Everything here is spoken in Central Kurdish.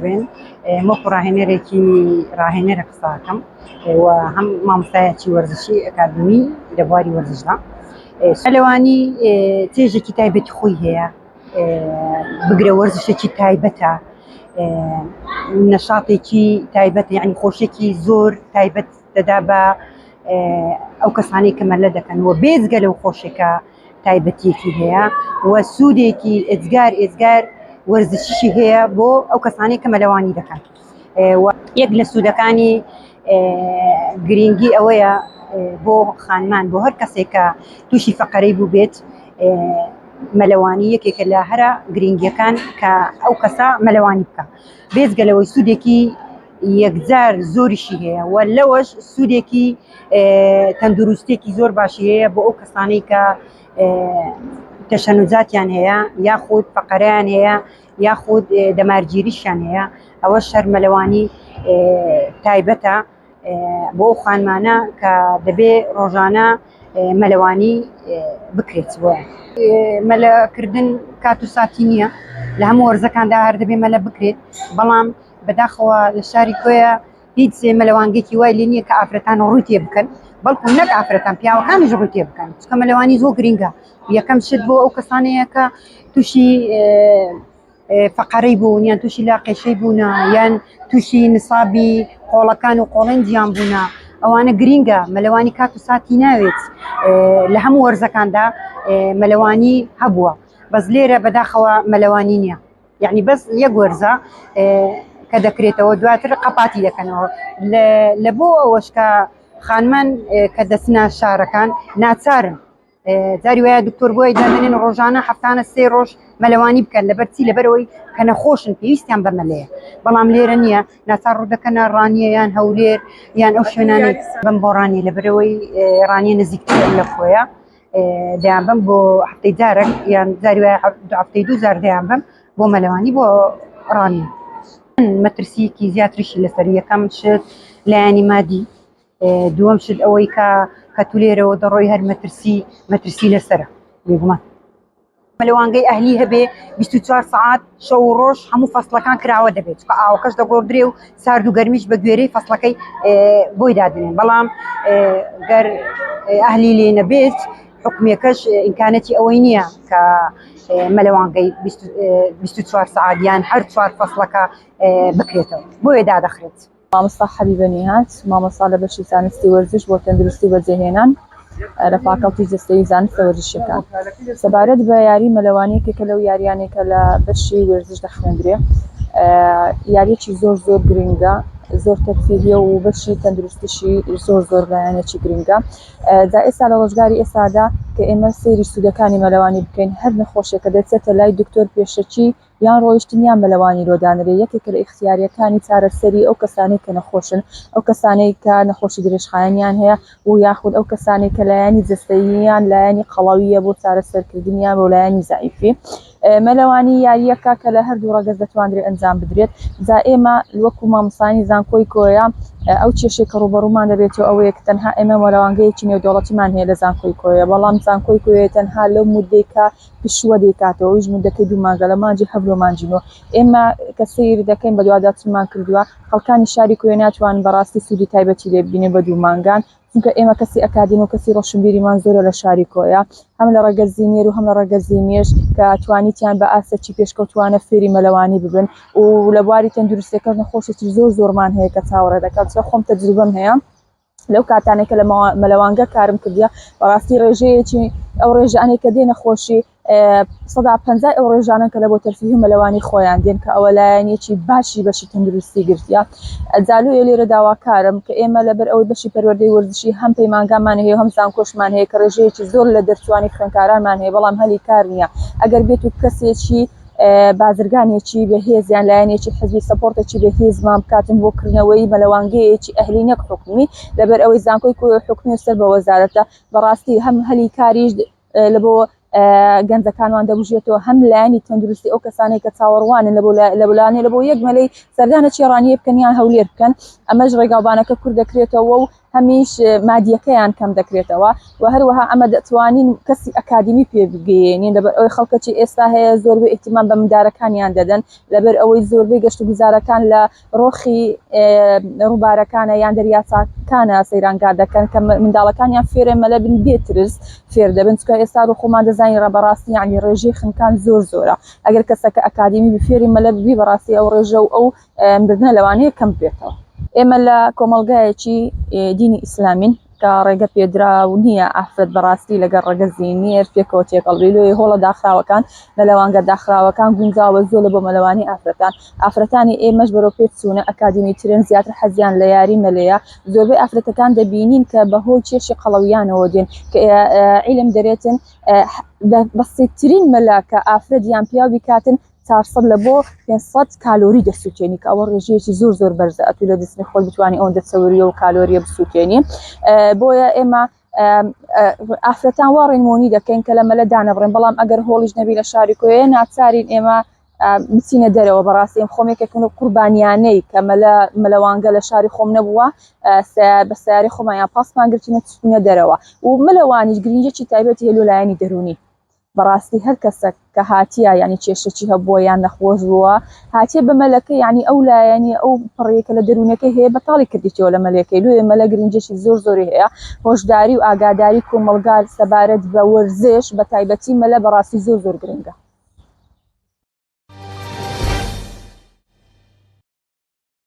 بێن وەکو ڕاهێنەرێکی ڕاهێنەرە قساکەم و هەم مامۆستایەکی وەرزشی ئەکادمی لە بواری وەرزشدا سەلەوانی تێژێکی تایبەتی خۆی هەیە بگرە وەرزشێکی تایبەتە نەشاتێکی تایبەت یعنی خۆشێکی زۆر تایبەت دەدا بە ئەو کەسانی کە مەلە دەکەن و بێزگە لەو خۆشێکە تایبەتیەکی هەیە و سوودێکی ئێزگار ئێزگار وەرزشیشی هەیە بۆ ئەو کەسانی کە مەلەوانی دەکەن یەک لە سوودەکانی گرنگی ئەوەیە بۆ خانمان بۆ هەر کەسێکە تووشی فەقەرەی بوو بێت مەلەوانی یەکێکە لە هەرە گرنگیەکان کە ئەو کەسە مەلەوانی بکە بێزگە لەوەی سوودێکی یەکجار زۆریشی هەیە و لەوەش سوودێکی تەندروستێکی زۆر باشی هەیە بۆ ئەو کەسانەی کە تەشەنوزاتیان هەیە یاخود فەقەریان هەیە یاخود دەمارگیریشیان هەیە ئەوە شەرمەلەوانی تایبەتە بۆ خانمانە کە دەبێ ڕۆژانە مەلەوانی بکرێت بۆ مەلەکردن کات و ساتی نییە لە هەموو وەرزەکاندا هەر دەبێ مەلە بکرێت بەڵام بەداخەوە لە شاری کۆیە هیچ مەلەوانگێکی وای لێ نییە کە ئافرەتان ڕووی تێ بکەن بەڵکو نەک ئافرەتان پیاوەکانیش ڕووی تێ بکەن چکە مەلەوانی زۆر گرینگە یەکەم شت بۆ ئەو کەسانەیە کە تووشی فقەرەی بوون یان تووشی لا قێشەی بوونە یان تووشی نسابی قۆڵەکان و قۆڵنجیان بوونە ئەوانە گرینگە مەلەوانی کات و ساتی ناوێت لە هەموو وەرزەکاندا مەلەوانی هەبووە بەس لێرە بەداخەوە مەلەوانی نییە یەعنی بەس یەک وەرزە کە دەکرێتەوە دواتر قەپاتی دەکەنەوە لە بۆ ئەوەش کە خانمان کە دەستنا شارەکان ناچارن جاری وایە دکتۆر بۆی دەێنن ڕۆژانە هەفتانە سێ ڕۆژ مەلەوانی بکەن لە بەرچی لەبەرەوەی کە نەخۆشن پێویستیان بەمەلەیە بەڵام لێرە نییە ناچار ڕوودەکەنە ڕانیە یان هەولێر یان ئەو شوێنانی بم بۆ ڕانی لەبەرەوەی ڕانیە نزیکتر لە خۆیە دەیان بم بۆ هەفتەی جارێک یان جاری وایە هەفتەی دوو جار دەیان بم بۆ مەلەوانی بۆ ڕانی مەترسیەکی زیاتریشی لەسەر یەکەم شت لایەنی مادی دووەم شت ئەوەی کە کە تو لێرەوە دەڕۆی هەر مەترسی مەترسی لەسرە بێگومان مەلەوانگەی ئەهلی هەبێ بیست و چوار سەعات شەو و ڕۆژ هەموو فەسڵەکان کراوە دەبێت چکە ئاوەکەش دەگۆڕدرێ و سارد و گەرمیش بە گوێرەی فەسڵەکەی بۆی دادنێن بەڵام گەر ئەهلی لێ نەبێت حکومەکەش ئینکانەتی ئەوەی نییە کە مەلەوانگەی بیست و چوار سەعات یان هەر چوار فەسڵەکە بکرێتەوە بۆیە دادەخرێت. مامۆستا حەبیبە نیهاد، مامۆستا لە بەشی زانستی وەرزش بۆ تەندروستی و بەجێهێنان لە فاکەڵتی جەستەیی و زانستە وەرزشییەکان، سەبارەت بە یاری مەلەوانی یەکێکە لەو یاریانەی کە لە بەشی وەرزش دەخوێندرێ یاریەکی زۆر زۆر گرنگە زۆر تەرفیهیە و بەشی تەندروستیشی زۆر زۆر لایەنێکی گرنگە جا ئێستا لە ڕۆژگاری ئێستادا کە ئێمە سەیری سوودەکانی مەلەوانی بکەین هەر نەخۆشێکە دەچێتە لای دکتۆر پێشەکی یان ڕۆیشتن یان مەلەوانی لۆ دانرێ یەکێکە لە ئیختیارییەکانی چارەسەری ئەو کەسانەی کە نەخۆشن، ئەو کەسانەی کە نەخۆشی درێژخایەنیان هەیە و یاخود ئەو کەسانەی کە لایەنی جەستەییان لایەنی قەڵەوییە بۆ چارەسەرکردنیان بۆ لایەنی زەعیفی. مەلەوانی یارییەکە کە لە هەردوو ڕەگەز دەتوانرێ ئەنجام بدرێت. جا ئێمە وەکوو مامۆستایانی زانکۆی کۆیە ئەو کێشەی کە ڕووبەڕوومان دەبێتەوە ئەوەیە کە تەنها ئێمە مەلەوانگەیەکی نێودەوڵەتیمان هەیە لە زانکۆی کۆیە بەڵام زانکۆی کۆیە تەنها لەو موددەی کە پشووە دەیکاتەوە ئەویش مودەکەی دوو مانگە لە مانجی حەڤل و مانجی نۆ ئێمە کە سەیر دەکەین بەدوادا چمان کردووە خەڵکانی شاری کوێ ناتوانن بەڕاستی سوودی تایبەتی لێ ببینن بە دوو مانگان چونکە ئێمە کەسی ئەکادیم و کەسی ڕۆشنبیریمان زۆرە لە شاری کۆیە هەم لە ڕەگەزی نێر و هەم لە ڕەگەزی مێش کە توانیتیان بە ئاستێکی پێشکەوتوانە فێری مەلەوانی ببن و لە بواری تەندروستیەکەش نەخۆشێکی زۆر زۆرمان هەیە کە چاوەڕێ دەکات چ خۆم تەجروبەم هەیە لەو کاتانێک کە لە مەلەوانگە کارم کردە بەڕاستی ڕێژەیەکی ئەو ڕێژانێ کە دێنە خۆشی سەدا پ ئەو ڕێژانە کە لە بۆ تەرفیه مەلەوانی خۆیان دێن کە ئەوە لایەنێکی باشی بەشی تەندروستی گرتە ئەزالو ێ لێرە داواکارم کە ئێمە لەبەر ئەوەی بەشی پەروەردەی وردشی هەم پەیمانگامان هەیە هەم زانکۆشمان هەیە کە ڕێژەیەکی زۆر لە دەرچوانی خوێنکارانمان هەیە بەڵام هەلی کار نییە ئەگەر بێت و کەسێکی بازرگانێکی بەهێز یان لایەنێکی حزبی سەپۆرتێکی بەهێزمان بکاتن بۆ کردنەوەی مەلەوانگەیەکی ئەهلی نەک حکومی لەبەر ئەوەی زانکۆی حکومی و سەر بە وەزارەتە بەڕاستی هەم هەلی کاریش لە بۆ گەنجەکانوان دەبژێتەوە هەم لایانی تەندروستی ئەو کەسانێک کە چاوەڕوانن لە لە بولانێ لە بۆ یەک مەلەی سەردانە چێڕانیە بکەنیان هەولێر بکەن ئەمەش ڕێگاوبانەکە کورد دەکرێتەوە و هەمیش مادیەکەیان کەم دەکرێتەوە و هەروەها ئەمە دەتوانین کەسی ئەکادمی پێ بگەیەنین لەبەر ئەوی خەڵکەکی ئێستا هەیە زۆربەی ئیحتیمام بە مندارەکانیان دەدەن لەبەر ئەوەی زۆربەی گەشت و گوزارەکان لە ڕۆخی ڕووبارەکانە یان دەریاچکانە سەیرانگا دەکەن کە منداڵەکانیان فێرە مەلە بن بێترس فێر دەبن چکە ئێستا ڕۆ خۆمان دەزانین ڕە بەڕاستی یعنی ڕێژی خنکان زۆر زۆرە ئەگەر کەسەکە ئەکادمی بفێری مەلە ببی بەڕاستی ئەو ڕێژە و ئەو مردنە لەوانەیە کەم بێتەوە ئێمە لە کۆمەلگایەکی دینی ئیسلامین کە ڕێگە پێدرا و نییە ئافرەت بەڕاستی لەگەر ڕگەزی نێر پێکەوە تێکەڵی لۆی هۆڵە داخراوەکان لە لەوانگە داخراوەکان گونجاوە زۆر لە بۆ مەلەوانی ئافرەتان ئافرەتانی ئێمەش بەرەو پێت سوونە ئەکادمی ترێن زیاتر حەزیان لە یاری مەلەیە زۆربەی ئافرەتەکان دەبینین کە بەهۆی کێشی قەڵەویانەوە دێن کە عیلم دەرێتن بەسیترین مەلاکە ئافرەت یان پیاوی کاتن چار سەد لە بۆ پێنج سەد کالۆری دەسووتێنی کە ئەوە ڕێژەیەکی زۆر زۆر بەرزە ئەتوو لە جسمی خۆت بتوانانی ئەوەندە چەوریە و کالۆریە بسووتێنی بۆیە ئێمە ئافرەتان وا ڕێنمونی دەکەین کە لە مەلە دانەبڕێن بەڵام ئەگەر هۆڵیش نەبی لە شاری کوێ ناچارین ئێمە بچینە دەرەوە بەڕاستی ئەم خۆمێکێکن و قوربانیانەی کە مەلە مەلەوانگە لە شاری خۆم نەبووە بە سیاری خۆمانیان پاسمان گرتینە چینە دەرەوە و مەلەوانیش گرنجێکی تایبەتی هەلو لایەنی دەرونی بەڕاستی هەر کەسەک کە هاتیە یعنی کێشەکی هەبووە یان نەخۆش بووە هاتیە بە مەلەکە یعنی ئەو لایەنی ئەو پڕێکە لە دەروونەکە هەیە بەتاڵی کردیتەوە لە مەلەکەی لوێ مەلە گرنجێکی زۆر زۆری هەیە هۆشداری و ئاگاداری کۆمەلگار سەبارەت بە وەرزش بە تایبەتی مەلە بەڕاستی زۆر زۆر گرنگە